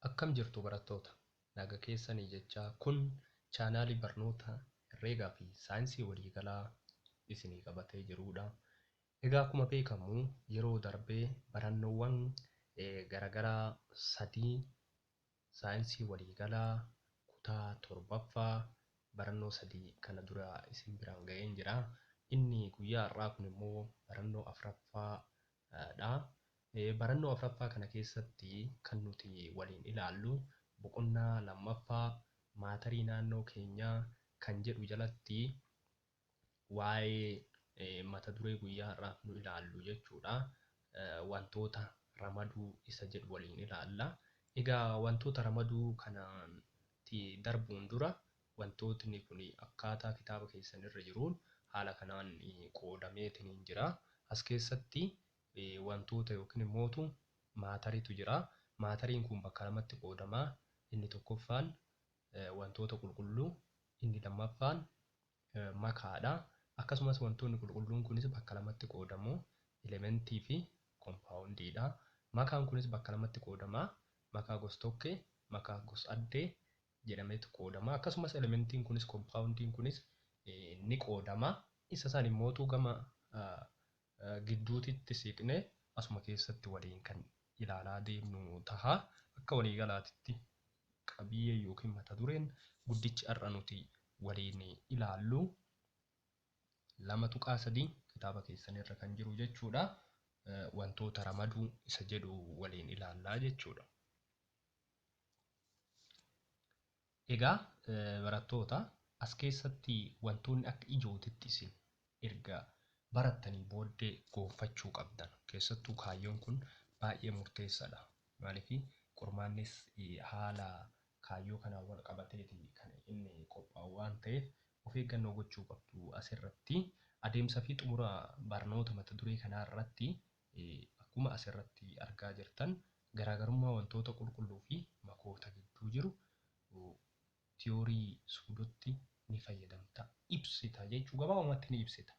Akkam jirtu barattoota? Naga keessani jechaa kun chaanaalii barnoota Herreegaa fi Saayinsii Waliigalaa isinii qabatee jiruudha. Egaa akkuma beekamu yeroo darbe barannoowwan garagaraa sadii Saayinsii Waliigalaa kutaa torbaffaa barannoo sadii kana dura isin biraan ga'een jira. Inni guyyaa har'aa kun immoo barannoo afraffaa dha. Barannoo afraffaa kana keessatti kan nuti waliin ilaallu boqonnaa lammaffaa maatarii naannoo keenyaa kan jedhu jalatti waa'ee mata duree guyyaa har'aaf nu ilaallu jechuu dha. Wantoota ramaduu isa jedhu waliin ilaalla. Egaa wantoota ramaduu kanatti darbuun dura Wantootni kun akkaataa kitaaba keessan irra jiruun haala kanaan qoodameetiniin jira. As keessatti wantoota yookiin immootu maatariitu jira. Maatariin kun bakka lamatti qoodama. Inni tokkoffaan wantoota qulqulluu, inni lammaffaan makaadha. Akkasumas wantoonni qulqulluun kunis bakka lamatti qoodamu. Elementii fi kompaawundiidha. Makaan kunis bakka lamatti qoodama. Makaa gos-tokkee, makaa gos-addee, jedhameetu qoodama. Akkasumas elementiin kunis, kompaawundiin kunis ni qoodama. Isa san immootu gama gidduutitti siiqnee asuma keessatti waliin kan ilaalaa deemnu taha. Akka waliigalaatitti qabiyyeen yookiin mata dureen guddichi har'a nuti waliin ilaallu 2.3 kitaaba keessanirra kan jiru jechuudha. Wantoota ramaduu isa jedhu waliin ilaallaa jechuudha. Egaa barattoota as keessatti wantoonni akka ijootitti isin erga barattanii booddee goonfachuu qabdan keessattuu kaayyoon kun baay'ee murteessadha. Maaliif qormaannis haala kaayyoo kanaan wal qabateeti kan inni qophaa'u waan ta'eef of eeggannoo gochuu qabdu asirratti adeemsa fi xumura barnoota mata duree kanaa irratti Akkuma as irratti argaa jirtan garaagarummaa wantoota qulqulluu fi makoota gidduu jiru tiyoorii suudotti ni fayyadamta, ibsita jechuu gabaabumatti ni ibsita.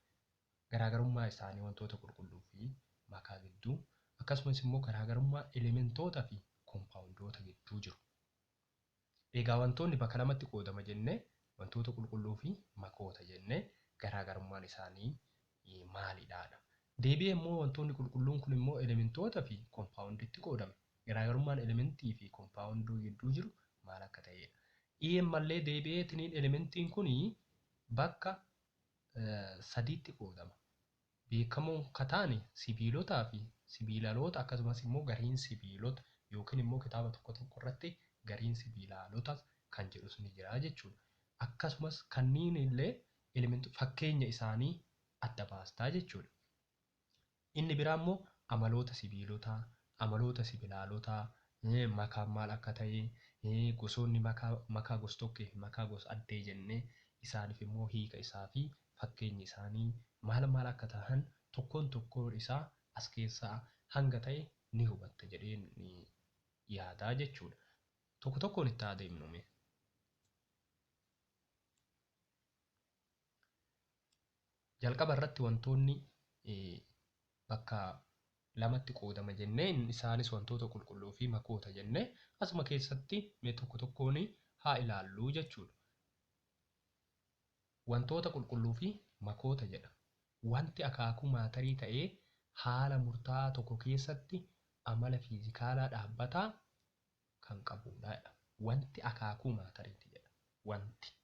Garaagarummaa isaanii wantoota qulqulluu fi makaa gidduu akkasumas immoo garaagarummaa elementoota fi kompaawundoota gidduu jiru Egaa wantoonni bakka lamatti qoodama jenne, wantoota qulqulluu fi makoota jenne. Garaagarummaan isaanii maalidha? dha. Deebi'ee immoo wantoonni qulqulluun kun immoo elementoota fi kompaawundiitti qoodame. Garaagarummaan elementii fi kompaawunduu gidduu jiru maal akka ta'eedha. i Ammallee deebi'ee tiniin elementiin kun bakka sadiitti qoodama. beekamoo ka taane sibiilotaa fi sibiilaloota akkasumas immoo gariin sibiilota yookiin immoo kitaaba tokko tokko irratti gariin sibiilaalota kan jedhus ni jira jechuu dha. Akkasumas kanniin illee elementoota fakkeenya isaanii adda baastaa jechuu dha. Inni biraa immoo amaloota sibiilotaa, amaloota sibilaalotaa, makaan maal akka ta'e, gosoonni makaa, makaa gos-tokkee fi makaa gos-addee jennee isaaniif immoo hiika isaa fi fakkeenyi isaanii maal maal akka tahan tokkoon tokkoon isaa as keessaa hanga tahe ni hubatta jedheen yaada jechuu dha. Tokko tokkoon itti haa deemnu mee. Jalqaba irratti wantoonni bakka lamatti qoodama jennee isaanis wantoota qulqulluu fi makoota jennee asuma keessatti mee tokko tokkoon haa ilaallu jechuu dha. Wantoota qulqulluu fi makoota jedha. Wanti akaakuu maatarii ta'e haala murtaa'aa tokko keessatti amala fiizikaalaa dhaabbataa kan qabuudha jedha. Wanti akaakuu maatariiti jedha. Wanti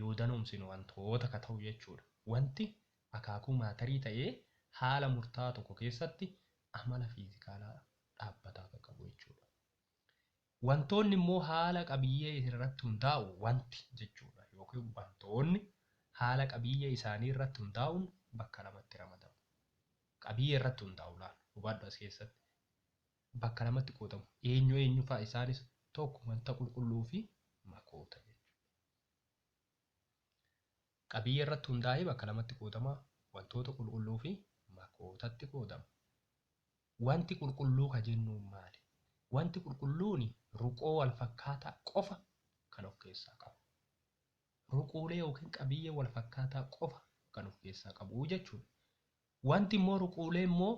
yoo danoomsinu wantoota ka ta'u jechuudha. Wanti akaakuu maatarii ta'e haala murtaa'aa tokko keessatti amala fiizikaalaa dhaabbataa ka qabu jechuudha. Wantoonni immoo haala qabiyyee isin irratti hundaa'u wanti jechuudha yookiin wantoonni haala qabiyyee isaanii irratti hundaa'uun bakka lamatti ramadamu. Qabiyyee irratti hundaa'u laal hubadhu as keessatti bakka lamatti qoodamu. Eenyu eenyu fa'a isaanis tokko wanta qulqulluu fi makoota jechuudha. Qabiyyee irratti hundaa'ee bakka lamatti qoodama wantoota qulqulluu fi makootatti qoodama. Wanti qulqulluu ka jennuun maali? Wanti qulqulluuni ruqoo wal fakkaataa qofa kan of keessaa qabu. Ruquulee yookiin qabiyyee wal fakkaataa qofa kan of keessaa qabu jechuudha. Wanti immoo ruquulee immoo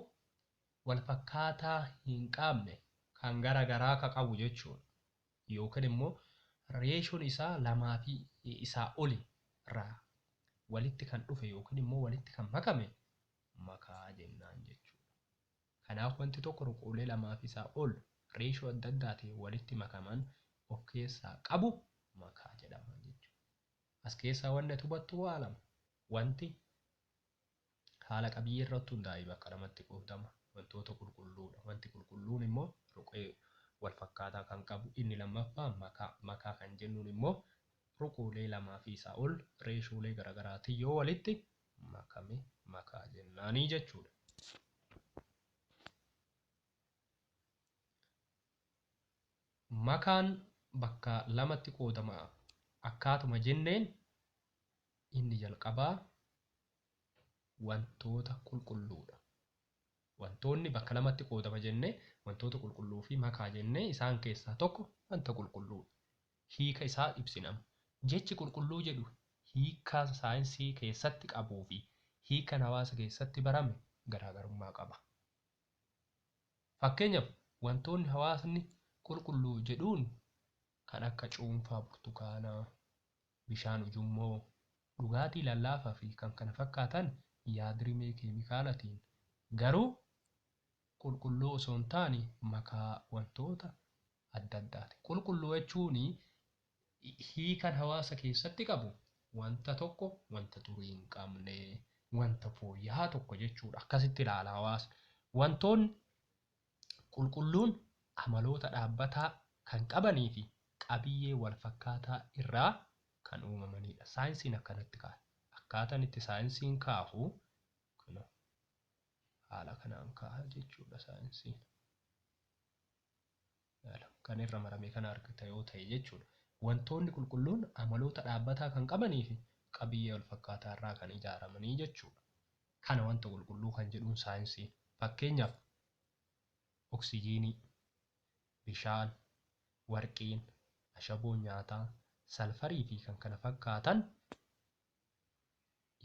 wal fakkaataa hin qaabne kan gara garaa ka qabu jechuudha. Yookiin immoo reeshoon isaa lamaa fi isaa oli irraa walitti kan dhufe yookiin immoo walitti kan makame makaa jennaan jechuudha. Kanaaf wanti tokko ruquulee lamaafi isaa ol reeshoo adda addaatiin walitti makaman of keessaa qabu makaa jedhama jechuudha. As keessaa wanni ati hubattu waa lama. Wanti haala qabiyyee irratti hundaa'ee bakka lamatti qoodama. Wantoota qulqulluudha. Wanti qulqulluun immoo ruqee wal fakkaataa kan qabu. Inni lammaffaa makaa. Makaa kan jennuun immoo ruquulee lamaafi isaa ol reeshoolee garagaraatiin yoo walitti makame makaa jennaanii jechuudha. Makaan bakka lamatti qoodama akkaatuma jenneen inni jalqabaa wantoota qulqulluudha. Wantoonni bakka lamatti qoodama jenne, wantoota qulqulluu fi makaa jenne, isaan keessaa tokko wanta qulqulluu dha. Hiika isaa ibsina amma. Jechi qulqulluu jedhu hiika saayinsii keessatti qabuu fi hiikan hawaasa keessatti barame garaagarummaa qaba. Fakkeenyaf, wantoonni hawaasni qulqulluu jedhuun kan akka cuunfaa burtukaanaa, bishaan ujummoo, dhugaatii lallaafaa fi kkf yaadrimee keemikaalatiin garuu qulqulluu osoo hin taane makaa wantoota adda addaatiin. Qulqulluu jechuun hiikan hawaasa keessatti qabu wanta tokko wanta xurii hin qabne, wanta fooyyahaa tokko jechuudha. Akkasitti ilaala hawaasni. Wantoonni qulqulluun amaloota dhaabbataa kan qabanii fi qabiyyee walfakkaataa irraa kan uumamanii dha. Saayinsiin akkanatti kaaya. Akkaataan itti saayinsiin kaahu kunoo haala kanaan kaaha jechuudha saayinsiin. ilaala. Kan irra marame kana argita yoo ta'e jechuudha. Wantoonni qulqulluun amaloota dhaabbataa kan qabanii fi qabiyyee wal fakkaataa irraa kan ijaaramanii jechuudha. Kana wanta qulqulluu kan jedhuun saayinsii. Fakkeenyaaf, oksijiinii, bishaan, warqiin, ashaboon nyaataa, salfarii fi kan kana fakkaatan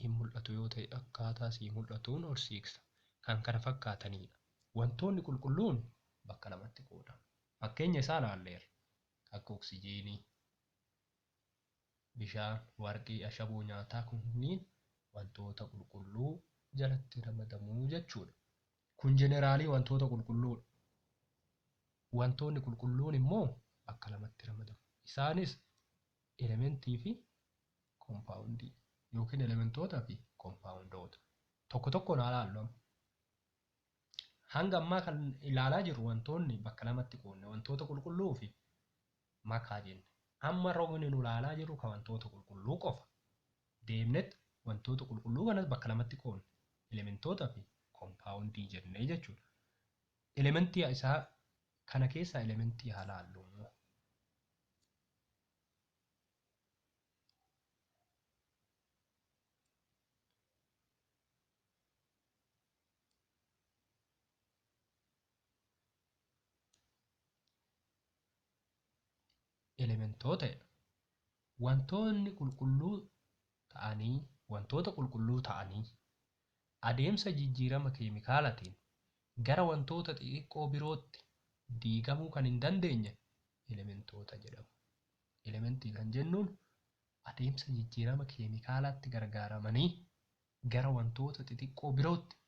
hin mul'atu yoo ta'e akkaataa sii mul'atuun ol siiksa. kan kana fakkaataniidha. Wantoonni qulqulluun bakka lamatti qoodamu. Fakkeenya isaa ilaalleerra. Akka oksijiinii, bishaan, warqii, ashaboo nyaataa kunniin wantoota qulqulluu jalatti ramadamu jechuudha. Kun jeneraalii wantoota qulqulluudha. Wantoonni qulqulluun immoo bakka lamatti ramadamu. Isaanis elementii fi kompaawundii yookiin elementoota fi kompaawundoota tokko tokkoon haa laallu amma. Hanga ammaa kan ilaalaa jirru wantoonni bakka lamatti qoodne wantoota qulqulluu fi makaa jenne. Amma rogni nu ilaalaa jirru kan wantoota qulqulluu qofa. Deemnet wantoota qulqulluu kanas bakka lamatti qoodne elementoota fi kompaawundii jennee jechuudha. Elementii isaa kana keessaa elementii haa laallu. elementoota jedha. Wantoonni qulqulluu ta'anii wantoota qulqulluu ta'anii adeemsa jijjiirama keemikaalatiin gara wantoota xixiqqoo birootti diigamuu kan hin dandeenye elementoota jedhamu. Elementii kan jennuun adeemsa jijjiirama keemikaalaatti gargaaramanii gara wantoota xixiqqoo birootti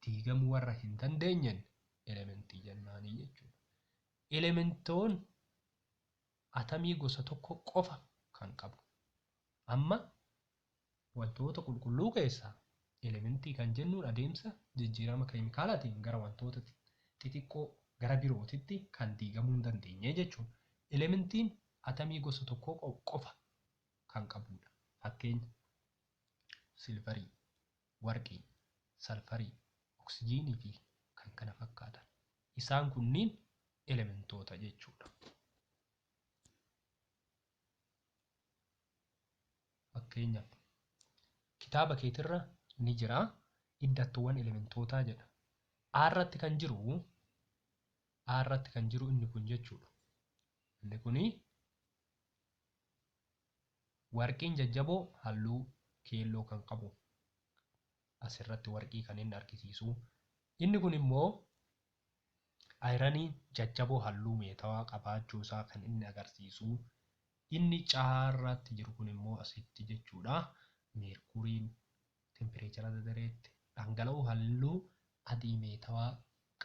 diigamuu warra hin dandeenyeen elementii jennaanii jechuudha. Elementoon atamii gosa tokko qofa kan qabu. Amma Wantoota qulqulluu keessaa elementii kan jennuun adeemsa jijjiirama keemikaalaatiin gara wantoota xixiqqoo gara birootitti kan diigamuu hin dandeenye jechuudha. Elementiin atamii gosa tokkoo qofa kan qabuudha. Fakkeenya, silvarii, warqii, salfarii, oksijiinii fi kan kana fakkaatan. Isaan kunniin elementoota jechuudha. Fakkeenyaaf, kitaaba keetirra ni jira iddattoowwan elementootaa jedha. A irratti kan jiru A irratti kan jiru inni kun jechuudha. Inni kun warqiin jajjaboo halluu keelloo kan qabu asirratti warqii kan inni argisiisu. Inni kun immoo Ayiraniin jajjaboo halluu meetawaa qabaachuu isaa kan inni agarsiisu inni caarraatti jiru kun immoo asitti jechuudha. Meerkuuriin tempireechara dadareetti dhangala'uu halluu adii meetawaa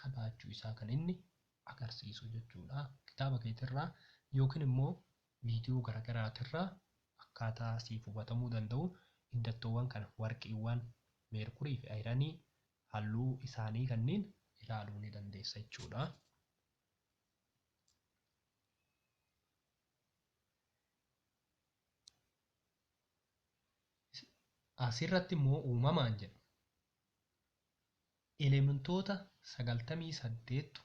qabaachuu isaa kan inni agarsiisu jechuudha. Kitaaba keetirraa yookiin immoo viidiyoo garaagaraatirraa akkaataa siif hubatamuu danda'u iddattoowwan kana warqiiwwan meerkurii fi ayiranii halluu isaanii kanniin ilaaluu ni dandeessa jechuudha. Asirratti immoo uumamaan jedha. Elementoota 98tu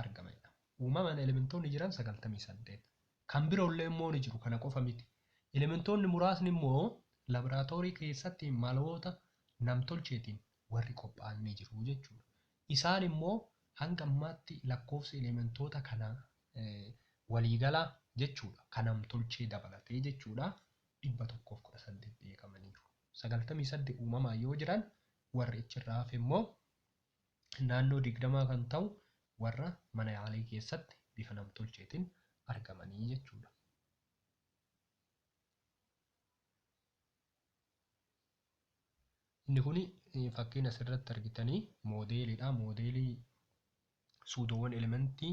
argama jedhama. Uumamaan elementoonni jiran 98. Kan biroollee immoo ni jiru, kana qofa miti. Elementoonni muraasni immoo labraatoorii keessatti maloota namtolcheetiin warri qophaa'an ni jiru jechuudha. Isaan immoo hanga ammaatti lakkoofsi elementoota kanaa waliigalaa jechuudha, kan namtolchee dabalatee jechuudha, 118 beekamaniiru. 98 uumamaan yoo jiran warri achirraa hafe immoo naannoo 20 kan ta'u warra mana yaalii keessatti bifa namtolcheetiin argamanii jechuudha. Inni kun fakkiin asirratti argitanii moodeeliidha. Moodeelii suudoowwan elementii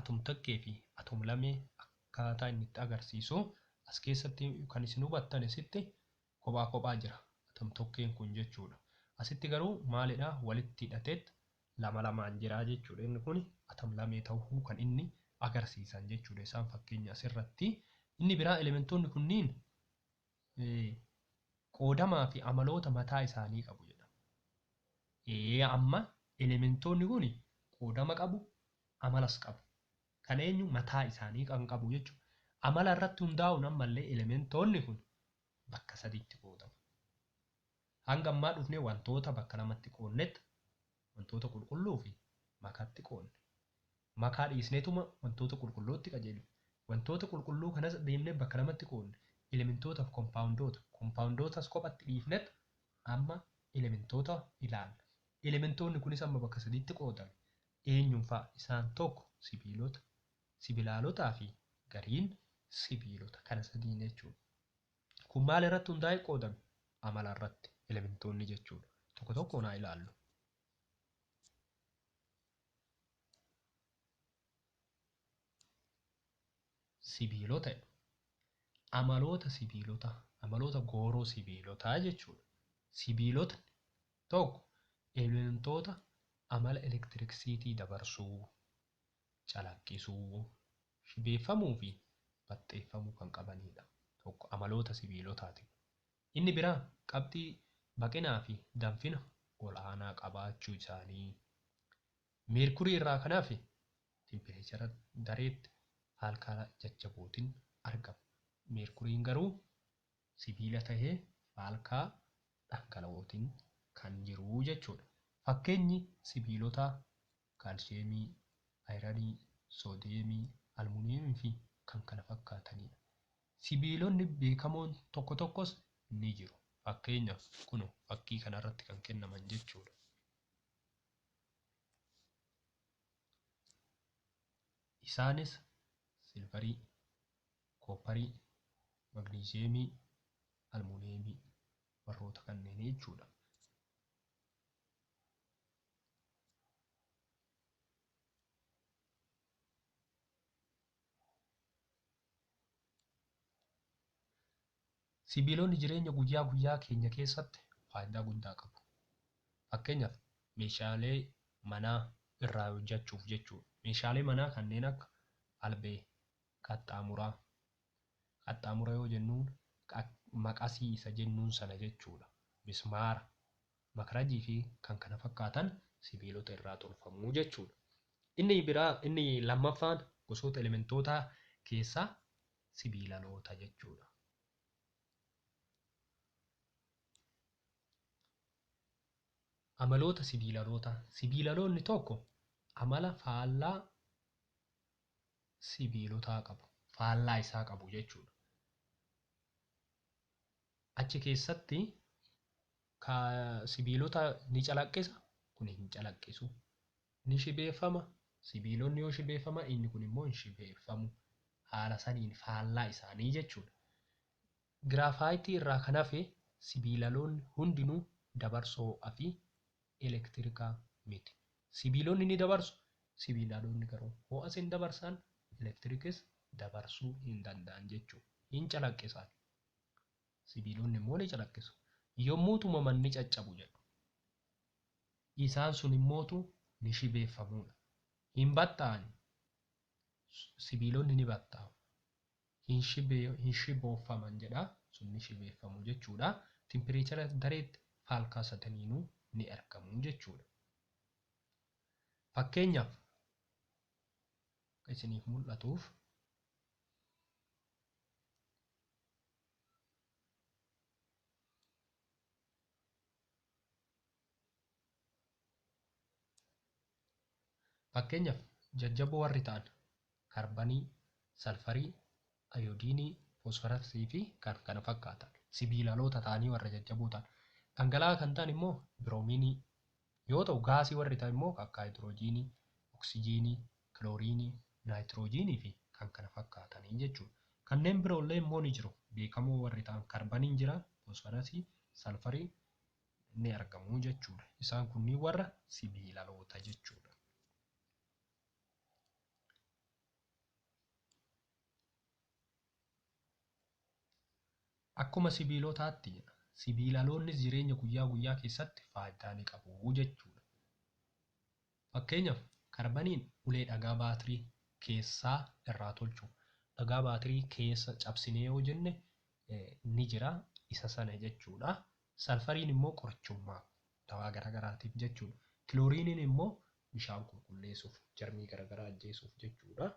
atomtakkee fi atomlamee akkaataa inni itti agarsiisu as keessatti kan isin hubattan isitti Kophaa kophaa jira atom tokkeen kun jechuudha. Asitti garuu maalidha walitti hidhateet lama lamaan jira jechuudha. Inni kuni atom lamee tahuu kan inni agarsiisan jechuudha isaan fakkeenya asirratti. Inni biraa elementoonni kunniin qoodamaa fi amaloota mataa isaanii qabu jedhama. Ee amma elementoonni kuni qoodama qabu amalas qabu. kan eenyu mataa isaanii kan qabu jechu. Amala irratti hundaa'uun ammallee elementoonni kun bakka sadiitti qoodamu. Hanga ammaa dhufnee wantoota bakka lamatti qoonnet wantoota qulqulluu fi makaatti qoonne. Makaa dhiisneetuma wantoota qulqullootti qajeellu. Wantoota qulqulluu kanas deemnee bakka lamatti qoonne. Elementoota fi kompaawundoota. Kompaawundootas kophatti dhiifnet amma elementoota ilaalla. Elementoonni kunis amma bakka sadiitti qoodame. Eenyuun fa'a? Isaan 1 sibiilota, sibilaalotaa fi gariin sibiilota kana sadiin jechuudha. Kun maal irratti hundaa'ee qoodame? Amala irratti, elementoonni jechuudha. Tokko tokkoon haa ilaallu. sibiilota jedhu. Amaloota sibiilota amaloota gooroo sibiilotaa jechuudha. Sibiilotni tokko elementoota amala elektiriksiitii dabarsuu, calaqqisuu, shibeeffamuu fi baxxeeffamuu kan qabaniidha. Tokko amaloota sibiilotaati. Inni biraa qabxii baqinaa fi danfina ol'aanaa qabaachuu isaanii Meerkurii irraa kan hafe tempireechara dareetti faalkaala jajjabootin argama. Meerkuriin garuu sibiila tahee faalkaa dhangala'ootin kan jiru jechuudha. Fakkeenyi sibiilotaa kaalshiyeemii, ayiranii, soodiyeemii, almuuniyeemii fi kan kana fakkaataniidha. Sibiilonni beekamoon tokko tokkos ni jiru. Fakkeenyaaf kunoo fakkii kanarratti kan kennaman jechuudha. Isaanis silvarii, koopparii, magniiziyeemii, almuuniyeemii warroota kanneenii jechuudha. Sibiilonni jireenya guyyaa guyyaa keenya keessatti faayidaa guddaa qabu. Fakkeenyaaf meeshaalee manaa irraa hojjachuuf jechuudha. Meeshaalee manaa kanneen akka albee, qaxxaamuraa, qaxxaamura yoo jennuun maqasii isa jennuun sana jechuudha. Mismaara, makrajii fi kan kana fakkaatan sibiilota irraa tolfamu jechuudha. Inni biraa inni lammaffaan gosoota elementootaa keessaa sibiilaloota jechuu dha. Amaloota sibiilalootaa, sibiilaloonni tokko amala faallaa sibiilotaa qabu, faallaa isaa qabu jechuu dha. Achi keessatti Ka sibiilota ni calaqqisa, kuni hin calaqqisu. Ni shibeeffama, sibiilonni yoo shibeeffaman inni kun immoo hin shibeeffamu. Haala saniin faallaa isaanii jechuudha. Giraafaayitii irraa kan hafe sibiilaloonni hundinuu dabarsoo fi elektirikaa miti. Sibiilonni ni dabarsu, sibiilaloonni garuu ho'as hin dabarsan, elektirikis dabarsuu hin danda'an jechuudha. Hin calaqqisaan. Sibiilonni immoo ni calaqqisu. Yommuu tumaman ni caccabu jedhu. Isaan sun immoo tu ni shibeeffamu dha. Hin batta'an. Sibiilonni ni batta'u. Hin shibee, hin shibooffaman jedha. Sun ni shibeeffamu jechuu dha. Timpireechara dareetti faalkaa sataniinuu ni argamu jechuu dha. Fakkeenyaaf, akka isiniif mul'atuuf, Fakkeenyaaf, jajjaboo warri ta'an karbanii, salfarii, ayoodiinii, foosfarasii fi kan kana fakkaatan sibiilaloota ta'anii warra jajjaboo ta'an. Dhangala'aa kan ta'an immoo biroomiinii, yoo ta'u, gaasii warri ta'an immoo akka haayidiroojiinii, oksijiinii, kilooriinii, naayitiroojiinii fi kan kana fakkaatani jechuu dha. Kanneen biroo illee immoo ni jiru. Beekamoo warri ta'an karbaniin jira, foosfarasii, salfariin ni argamu jechuu dha. Isaan kunniin warra sibiilaloota jechuu dha. Akkuma sibiilotaatti jedha. Sibiilaloonnis jireenya guyyaa guyyaa keessatti faaydaa ni qabu jechuu dha. Fakkeenyaaf karbaniin ulee dhagaa baatirii keessaa irraa tolchu. Dhagaa baatirii keessa cabsinee yoo jenne ni jira isa sana jechuu dha. Salfariin immoo qorichummaaf dawaa gara garaatiif jechuudha. Kilooriiniin immoo bishaan qulqulleessuuf, jarmii gara garaa ajjeesuuf jechuudha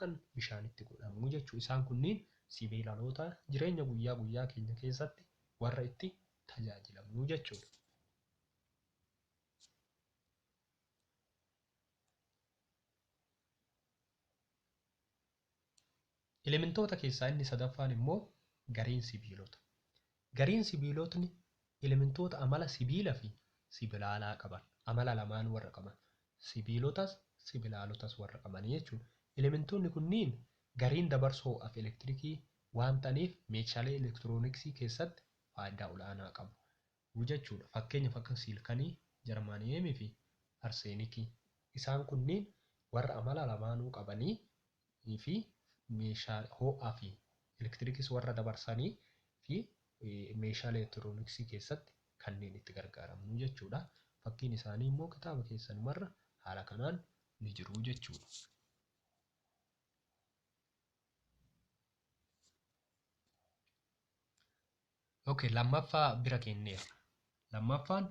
kan bishaan itti godhamu jechuudha. Isaan kunniin sibeelaloota jireenya guyyaa guyyaa keenya keessatti warra itti tajaajilamnu jechuudha. Elementoota keessaa inni sadaffaan immoo gareen sibiilota. Gareen sibiilotni elementoota amala sibiila fi sibilaalaa qaban, amala lamaan warra qaban, sibiilotas sibilaalotas warra qabanii jechuudha. Elementoonni kunniin gareen dabarsa ho'aaf elektirikii waan ta'aniif meeshaalee elektirooniksii keessatti faayidaa ol'aanaa qabu. u jechuu dha. Fakkeenyaaf akka siilkanii, jarmaaniyeemii fi arseenikii. Isaan kunniin warra amala lamaanuu qabanii fi meeshaa hoo'aa fi elektirikis warra dabarsanii fi meeshaalee elektirooniksii keessatti kanneen itti gargaaramnu jechuu dha. Fakkiin isaanii immoo kitaaba keessanumarra haala kanaan ni jiru jechuu dha. Ok lammaffaa bira keenneerra. Lammaffaan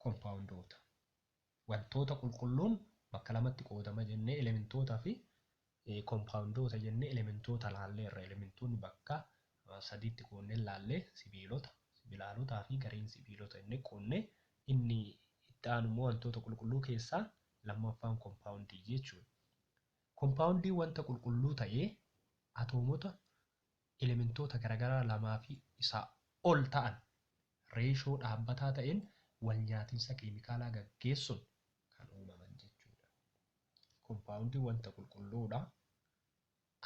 kompaawundoota. Wantoota qulqulluun bakka lamatti qoodama jennee elementoota fi kompaawundoota jennee elementoota laalleerra. Elementoonni bakka sadiitti qoodnee laallee sibiilota, sibilaalotaa fi gareen sibiilota jennee qoodne inni itti aanu immoo wantoota qulqulluu keessaa lammaffaan kompaawundii jechuudha. Kompaawundiin wanta qulqulluu ta'ee atoomota elementoota garagaraa lamaa fi isaa ol ta'an reeshoo dhaabbataa ta'een walnyaatinsa keemikaalaa gaggeessuun kan uumaman jechuudha. Kompaawundii wanta qulqulluudha.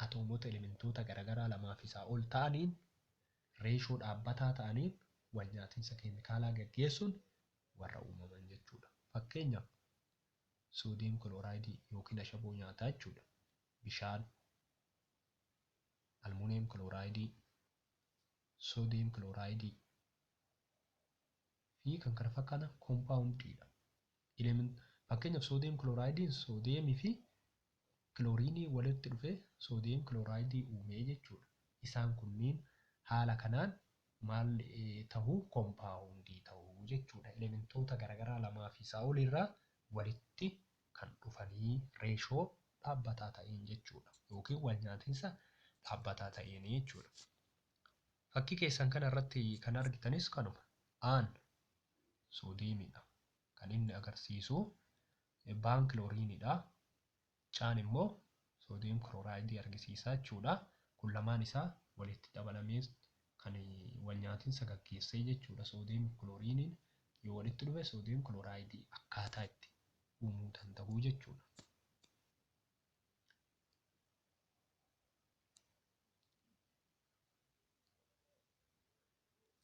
Atoomota elementoota garagaraa lamaa fi isaa ol ta'aniin reeshoo dhaabbataa ta'aniin walnyaatinsa keemikaalaa gaggeessuun warra uumaman jechuudha. Fakkeenyaaf soodiyem kilooraayidii yookiin ashaboo nyaataa jechuudha. Bishaan, almuuniyem kilooraayidii, soodiyem kilooraayidii fi kan kana fakkaatan kompaawundii dha. Ilemen- Fakkeenyaaf soodiyem kilooraayidiin soodiyemii fi kilooriinii walitti dhufee soodiyem kilooraayidii uumee jechuudha. Isaan kunniin haala kanaan maal eh, tahu kompaawundii tahu jechuudha. Elementoota garagaraa lamaa fi isaa ol irraa walitti kan dhufanii reeshoo dhaabbataa ta'een jechuudha yookiin walnyaatinsa dhaabbataa ta'een jechuudha. Fakkii keessan kana irratti kan argitanis kanuma. Aan soodeemiidha. Kan inni agarsiisu baan kilooriinidha. Caan immoo soodiyem kirooraayidii argisiisa jechuudha. Kun lamaan isaa walitti dabalamee kan walnyaatinsa gaggeessee jechuudha soodiyem kilooriiniin yoo walitti dhufe soodiyem kilooraayidii akkaataa itti uumuu danda'u jechuudha.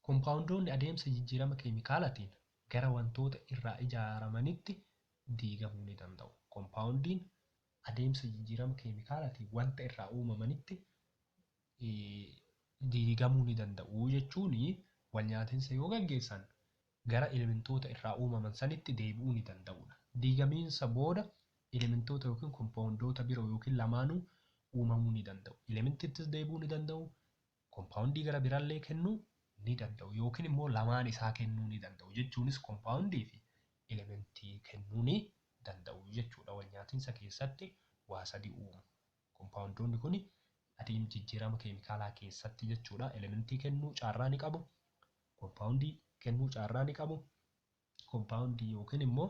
Kompaawundoonni adeemsa jijjiirama keemikaalaatiin gara wantoota irraa ijaaramanitti diigamuu ni danda'u. Kompaawundiin adeemsa jijjiirama keemikaalaatiin wanta irraa uumamanitti diigamuu ni danda'u jechuun walnyaatinsa yoo gaggeessan gara elementoota irraa uumaman sanitti deebi'uu ni danda'udha. Diigamiinsa booda elementoota yookiin kompaawundoota biroo yookiin lamaanuu uumamuu ni danda'u. Elementittis deebi'uu ni danda'u, kompaawundii gara birallee kennuu ni danda'u yookiin immoo lamaan isaa kennuu ni danda'u jechuunis kompaawundii fi elementii kennuu ni danda'u jechuudha walnyaatinsa keessatti waa sadi uumu kompaawundoonni kuni adeem jijjiirama keemikaalaa keessatti jechuudha elementii kennuu caarraa ni qabu kompaawundii kennuu caarraa ni qabu kompaawundii yookiin immoo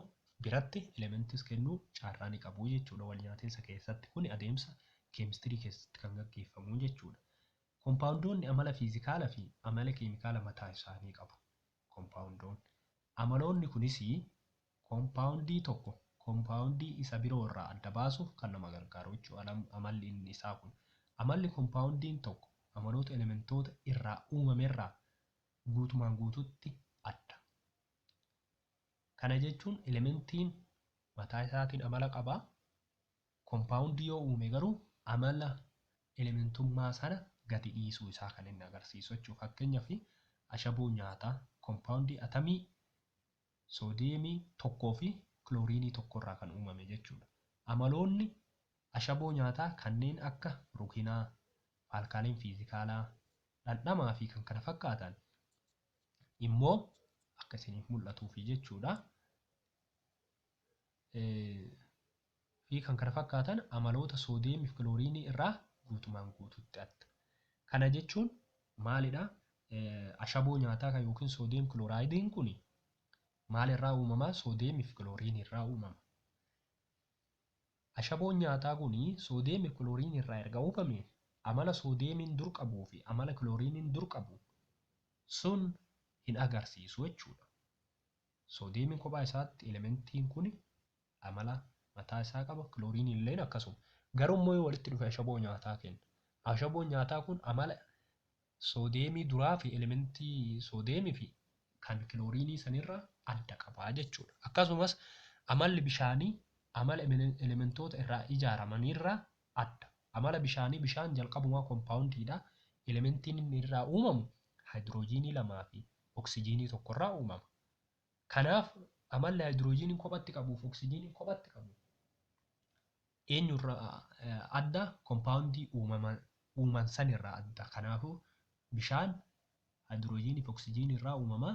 biratti elementis kennuu carraa ni qabu jechuudha walnyaatinsa keessatti. Kuni adeemsa keemistirii keessatti kan gaggeeffamu jechuudha. Kompaawundoonni amala fiizikaala fi amala keemikaala mataa isaanii qabu. Kompaawundoon amaloonni kunis kompaawundii tokko kompaawundii isa biroo irraa adda baasuuf kan nama gargaaru jechuudha amalli inni isaa kun. Amalli kompaawundiin tokko amaloota elementoota irraa uumamerraa guutumaan guutuutti adda. Kana jechuun elementiin mataa isaatiin amala qaba, kompaawundii yoo uume garuu amala elementummaa sana gadi dhiisuu isaa kan inni agarsiisu jechuudha. Fakkeenyaaf ashaboo nyaataa kompaawundii atamii soodiyeemii tokkoo fi kilooriinii tokko irraa kan uumame jechuudha. Amaloonni Ashaboo nyaataa kanneen akka rukinaa, faalkaaleen fiizikaalaa, dhandhamaa fi kan kana fakkaatan immoo akka isiniif mul'atuufi jechuudha. fi kan kana fakkaatan amaloota soodiyeemii fi kilooriinii irraa guutumaan guututti adda. Kana jechuun maalidha? Ashaboo nyaataa kan yookiin soodiyeem kiloraayidiin kun maalirraa uumama? Soodiyeemii fi kilooriinii irraa uumama. Ashaboon nyaataa kun soodeemi kilooriinii irraa erga oofame, amala soodeemiin dur qabuu fi amala kilooriiniin dur qabu sun hin agarsiisu jechuudha. Soodeemiin kophaa isaatti elementiin kun amala mataa isaa qaba, kilooriiniin illeen akkasuma. Garuu immoo yoo walitti dhufe ashaboo nyaataa kenna. Ashaboon nyaataa kun amala Soodeemii duraa fi elementii soodeemii fi kan kilooriinii san irraa adda qaba jechuudha. Akkasumas amalli bishaanii amala elementoota irraa ijaaramanii irraa adda. Amala bishaanii bishaan jalqabumaa kompaawundii dha. Elementiin inni irraa uumamu haayidiroojiinii lamaa fi oksijiinii tokko irraa uumama. Kanaaf amalli haayidiroojiiniin kophatti qabuu fi oksijiiniin kophatti qabu Eenyurraa adda? Kompaawundii uuman sanirraa adda. Kanaafuu, bishaan haayidroojiinii fi oksijiinii irraa uumama.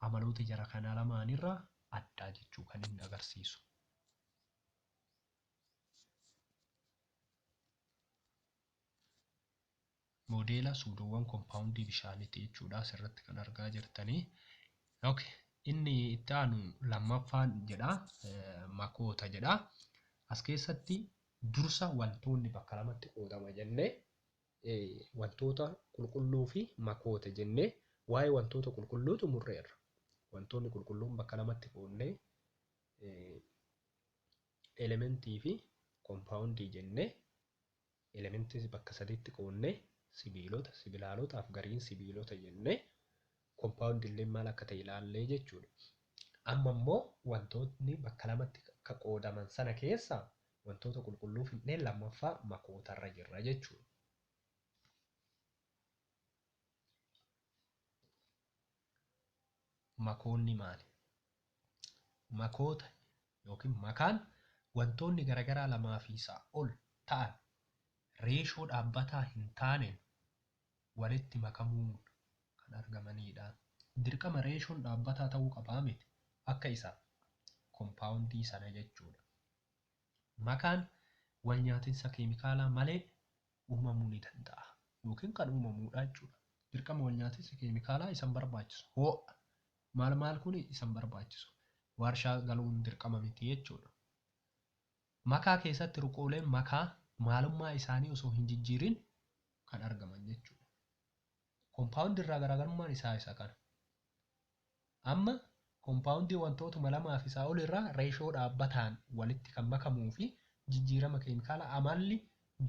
Amaloota jara kanaa lamaanirraa adda jechuu kan inni agarsiisu. Moodeela suudoowwan kompaawundii bishaaniitti jechuudha asirratti kan argaa jirtani. Ok inni itti aanu lammaffaan jedha makoota jedha. As keessatti dursa wantoonni bakka lamatti qoodama jennee wantoota qulqulluu fi makoota jennee waa'ee wantoota qulqulluu xumurreerra. Wantoonni qulqulluun bakka lamatti qoodnee elementii fi kompaawundii jennee Elements bakka sadiitti qoodnee sibiilota, sibilaalota, afgariin sibiilota jennee compound illeen maal akka ta'e ilaallee jechuudha. Amma immoo wantootni bakka lamatti akka qoodaman sana keessaa wantoota qulqulluu fidnee lammaffaa makootarra jirra jechuudha. Makoonni maali? Makoota yookiin makaan wantoonni garagaraa lamaa fi isaa ol ta'an reeshoo dhaabbataa hin taaneen walitti makamuun kan argamaniidha. Dirqama reeshoon dhaabbataa ta'uu qabaa miti. Akka isa kompaawundii sana jechuudha. Makaan walnyaatinsa keemikaalaa malee uumamuu ni danda'a yookiin kan uumamuu dha jechuu dha. Dirqama walnyaatinsa keemikaalaa isan barbaachisu, hoo'a, maal maal kun isan barbaachisu waarshaa galuun dirqama miti jechuu dha. Makaa keessatti ruqooleen makaa maalummaa isaanii osoo hin jijjiirin kan argaman jechuu dha. Kompaawundii irraa garaagarummaan isaa isa kana. Amma kompaawundii wantootuma lamaa fi isaa ol irraa reeshoo dhaabbataan walitti kan makamuu fi jijjiirama keemikaalaa amalli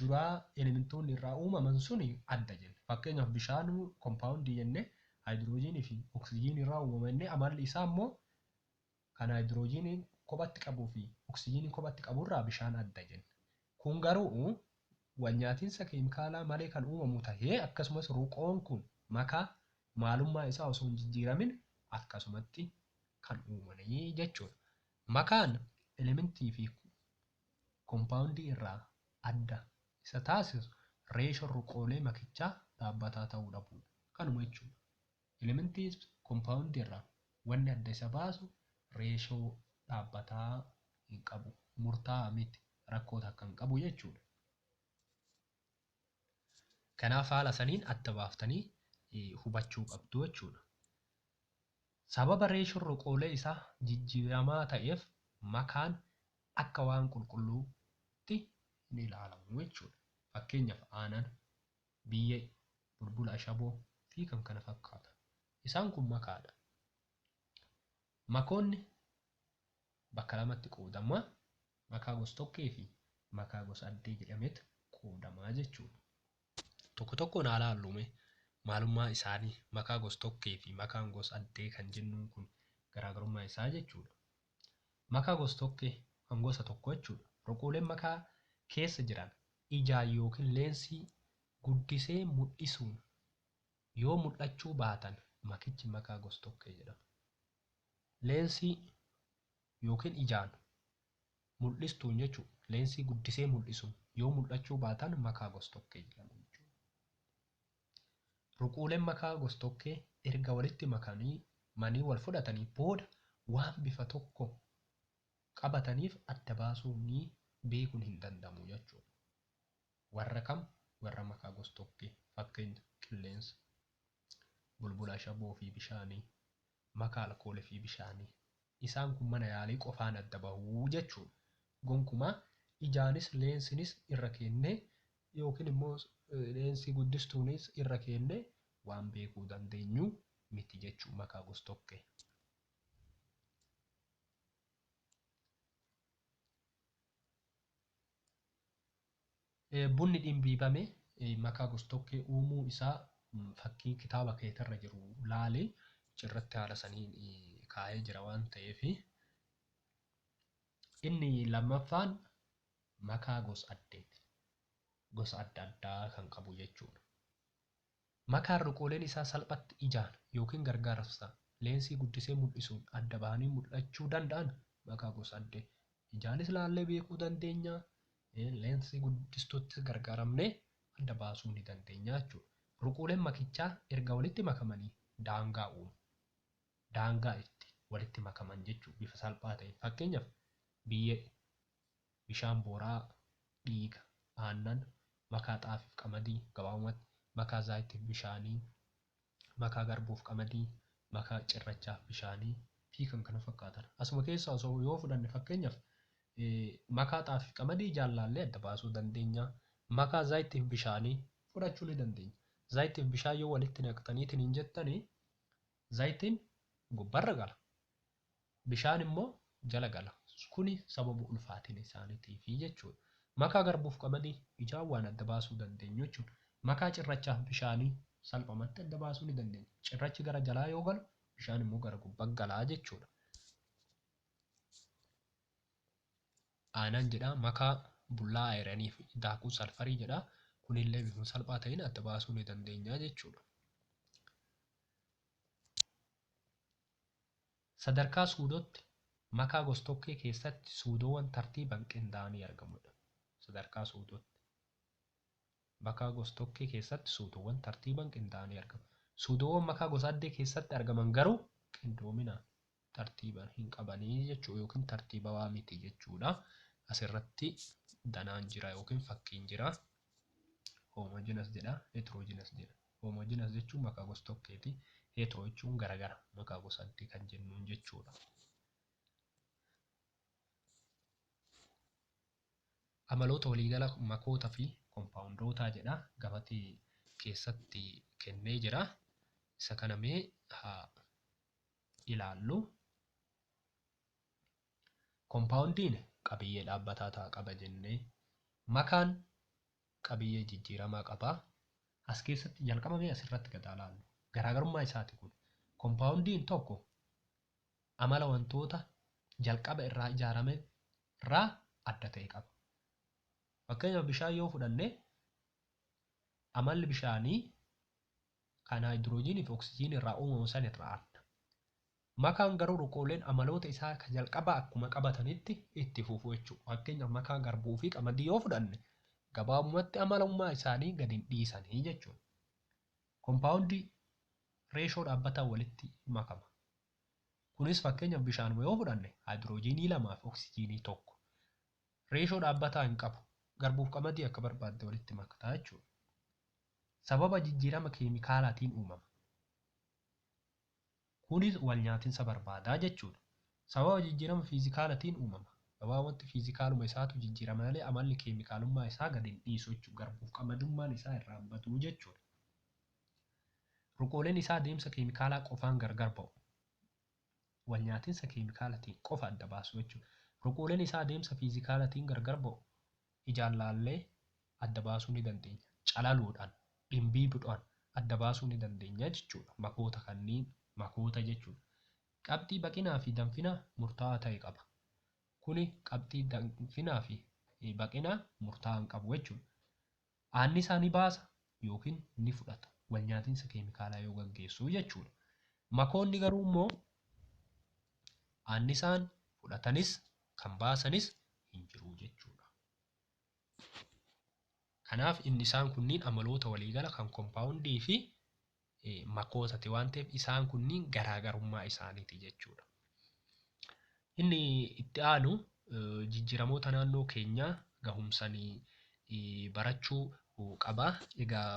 duraa elementoonni irraa uumaman suni adda jenne. Fakkeenyaaf bishaan kompaawundii jennee haayidiroojiinii fi oksijiinii irraa uumama jennee amalli isaa immoo kan haayidiroojiinii kophatti qabuu fi oksijiinii kophatti qabu irraa bishaan adda jenna. Kun garuu walnyaatinsa keemikaalaa malee kan uumamu tahee akkasumas ruqoon kun makaa maalummaa isaa osoo hin jijjiiramin akkasumatti kan uumani jechuu dha. Makaan elementii fi kompaawundii irraa adda isa taasisu reeshoon ruqoolee makichaa dhaabbataa tahuu dhabuu dha. Kanuma jechuu dha. Elementii fi kompaawundii irraa wanni adda isa baasu reeshoo dhaabbataa hin qabu, murtaa'aa miti, rakkoo takka hin qabu jechuudha. Kanaaf haala saniin adda baaftanii hubachuu qabdu jechuudha. Sababa reeshoon roqoolee isaa jijjiiramaa ta'eef makaan akka waan qulqulluutti hin ilaalamu jechuudha. Fakkeenyaaf aanan biyyee, bulbula ashaboo, fi kan kana fakkaatan. Isaan kun makaa dha. Makoonni bakka lamatti qoodama, makaa gos-tokkee fi makaa gos-addee jedhameet qoodama jechuu dha. Tokko tokkoon haa laalluu mee maalummaa isaanii, makaa gos-tokkee fi makaan gos-addee kan jennuun kun garaagarummaa isaa jechuu dha. Makaa gostokkee kan gosa tokkoo jechuudha. Ruquuleen makaa keessa jiran ijaan yookiin leensii guddisee mul'isuun yoo mul'achuu baatan makichi makaa gostokkee jedhama. Leensii yookiin ijaan mul'istuun jechuun leensii guddisee mul'isuun yoo mul'achuu baatan makaa gostokkee jedhamu jechuudha. Ruquuleen makaa gostokkee erga walitti makanii manii wal fudhatanii booda waan bifa tokko qabataniif adda baasuun ni beekun hin danda'amu jechuudha. Warra kam? Warra makaa gostokkee. Fakkenya, qilleensa, bulbula ashaboo fi bishaanii. makaa alkoolii fi bishaanii. Isaan kun mana yaalii qofaan adda bahu jechuudha. Gonkumaa ijaanis leensinis irra keennee yookiin immoo leensii guddistuunis irra keennee waan beekuu dandeenyu miti jechuudha makaa gostokkee. Bunni dhimbiibame makaa gostokkee uumuu isaa fakkii kitaaba keetirra jiru laali. Achirratti haala saniin kaa'ee jira waan ta'eef. Inni lammaffaan makaa gos-addeeti. Gosa adda addaa kan qabu jechuudha. Makaan ruqooleen isaa salphatti ijaan yookiin gargaarsa leensii guddisee mul'isuun adda bahanii mul'achuu danda'an makaa gosa adda ijaanis laallee beekuu dandeenya, leensii guddistuuttis gargaaramnee adda baasuu ni dandeenya jechuudha. Ruqooleen makichaa erga walitti makamanii daangaa uumu. Daangaa itti walitti makaman jechuudha bifa salphaa ta'een. Fakkeenyaaf, biyyee. Bishaan booraa, dhiiga, aannan, makaa xaafiif qamadii, gabaabumatti, makaa zaayitiif bishaanii, makaa garbuuf qamadii, makaa cirrachaaf bishaanii fi kan kana fakkaatan. Asuma keessaa osoo yoo fudhanne fakkeenyaf makaa xaafiif qamadii ijaan laallee adda baasuu dandeenya. Makaa zaayitiif bishaanii fudhachuu ni dandeenya. Zaayitiif bishaan yoo walitti naqxaniitiin hin jettani zaayitiin gubbarra gala. bishaan immoo jala gala. Kuni sababa ulfaatina isaanitiifi jechuudha. Makaa garbuuf qamadii ijaan waan adda baasuu dandeenyu jechuudha. Makaa cirrachaaf bishaanii salphamatti adda baasuu ni dandeenya. Cirrachi gara jalaa yoo galu bishaan immoo gara gubbaa gala jechuudha. Aanaan jedhaa makaa bullaa ayiranii fi daakuu salfarii jedhaa kunillee bifuma salphaa ta'een adda baasuu ni dandeenya jechuudha. Sadarkaa suudootti, makaa gostokkee keessatti suudoowwan tartiiban qindaa'anii argamudha. Sadarkaa suudootti, makaa gostokkee keessatti suudoowwan tartiiban qindaa'anii argamu. Suudoowwan makaa gosaaddee keessatti argaman garuu qindoomina tartiiban hin qabani jechuu yookiin tartiibawaa miti jechuudha. Asirratti danaan jira yookiin fakkiin jira. Homogeneous jedha, heterogeneous jedha. Homogeneous jechuun maqaa gos-tokkeeti. Hetero jechuun garagara, maqaa gosaatti kan jennuun jechuudha. Amaloota waliigala makoota fi kompaawundootaa jedha. Gabatee keessatti kennee jira. Isa kana mee haa ilaallu. Kompaawundiin qabiyyee dhaabbataa ta'a qaba jennee makaan qabiyyee jijjiiramaa qaba. As keessatti jalqaba mee asirratti gad haa laallu. Garaagarummaa isaati kun. Kompaawundiin tokko amala wantoota jalqaba irraa ijaarame irraa adda ta'e qaba. Fakkeenyaaf bishaan yoo fudhanne amalli bishaanii kan haayidiroojiinii fi oksijiinii irraa uumamu san irraa adda. Makaan garuu ruqooleen amaloota isaa ka jalqabaa akkuma qabatanitti itti fufu jechuudha. Fakkeenyaaf makaa garbuu fi qamadii yoo fudhanne gabaabumatti amalummaa isaanii gad hin dhiisani jechuudha. Kompaawundii reeshoo dhaabbataan walitti makama. Kunis fakkeenyaaf bishaanuma yoo fudhanne haayidiroojiinii lamaa fi oksijiinii tokko. Reeshoo dhaabbataa hin qabu. Garbuuf qamadii akka barbaadde walitti makta jechuudha. Sababa jijjiirama keemikaalaatiin uumama. Kunis walnyaatinsa barbaada jechuudha. Sababa jijjiirama fiizikaalatiin uumama. Gabaa wanti fiizikaaluma isaatu jijjiirama malee amalli keemikaalummaa isaa gad hin dhiisu jechuudha. Garbuuf qamadummaan isaa irraa hin badu jechuudha. Ruqooleen isaa adeemsa keemikaalaa qofaan gargar ba'u. walnyaatinsa keemikaalatiin qofa adda baasu jechuudha. Ruqooleen isaa adeemsa fiizikaalatiin gargar ba'u. Ijaan laallee adda baasuu ni dandeenya. Calaluudhaan, dhimbiibdhoan adda baasuu ni dandeenya jechuudha. Makoota kanniin makoota jechuudha. Qabxii baqinaa fi danfinaa murtaa'aa ta'e qaba. Kuni qabxii danfinaa fi baqinaa murtaa'aa hin qabu jechuudha. aannisaa ni baasa yookiin ni fudhata, walnyaatinsa keemikaalaa yoo gaggeessu jechuudha. Makoonni garuu immoo aannisaan fudhatanis kan baasanis hin jiru jechuudha. Kanaaf inni isaan kunniin amaloota waliigala kan kompaawundii fi makootati waan ta'eef isaan kunniin garaagarummaa isaaniiti jechuudha. Inni itti aanu jijjiiramoota naannoo keenyaa gahumsanii barachuu qaba. Egaa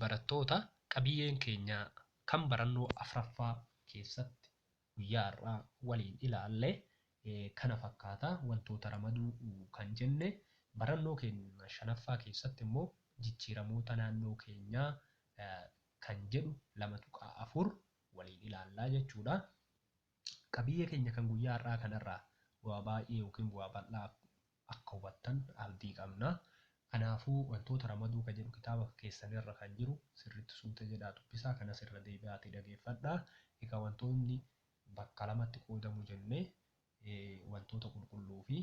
barattoota qabiyyeen keenya kan barannoo afraffaa keessatti guyyaa har'aa waliin ilaalle kana fakkaata. Wantoota ramaduu kan jenne barannoo keenya shanaffaa keessatti immoo jijjiiramoota naannoo keenyaa kan jedhu 2.4 waliin ilaallaa jechuudha. Qabiyyee keenya kan guyyaa har'aa kanarraa bu'aa baay'ee yookiin bu'aa bal'aa akka hubattan abdii qabna. Kanaafuu, wantoota ramaduu ka jedhu kitaaba keessan irra kan jiru sirriitti suuta jedhaa dubbisaa, kanas irra deebi'aatii dhageeffadhaa. Egaa wantoonni bakka lamatti qoodamu jenne, wantoota qulqulluu fi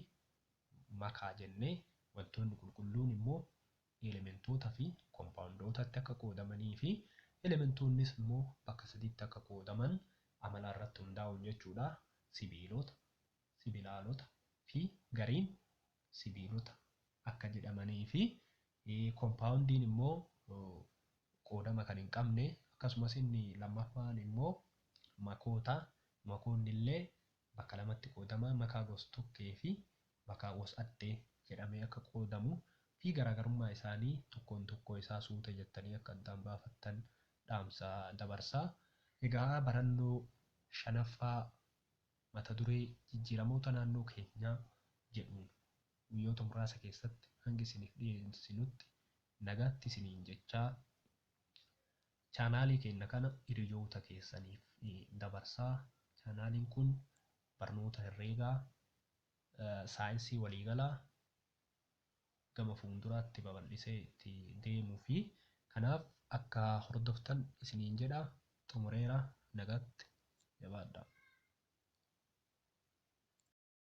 makaa jenne. Wantoonni qulqulluun immoo elementoota fi kompaawundootatti akka qoodamanii fi elementoonnis immoo bakka sadiitti akka qoodaman amala irratti hundaa'uun jechuu dha, sibiilota, sibilaalota, fi gariin sibiilota akka jedhamanii fi kompaawundiin immoo qoodama kan hin qabne akkasumas inni lammaffaan immoo makoota makoonni illee bakka lamatti qoodama makaa gos-tokkee fi makaa gos-addee jedhamee akka qoodamu fi garaagarummaa isaanii tokkoon tokkoo isaa suuta jettanii akka addaan baafattan dhaamsa dabarsa. Egaa barannoo shanaffaa Mata duree Jijjiiramoota Naannoo Keenyaa jedhuun guyyoota muraasa keessatti hanga isiniif dhiyeessinutti nagaatti isiniin jechaa chaanaalii keenya kana hiriyoota keessaniif dabarsaa. Chaanaaliin kun barnoota herreegaa, saayinsii waliigalaa, gama fuunduraatti babal'isee itti deemuufi. Kanaaf akka hordoftan isiniin jedha. Xumureera. Nagaatti. Jabaadhaa.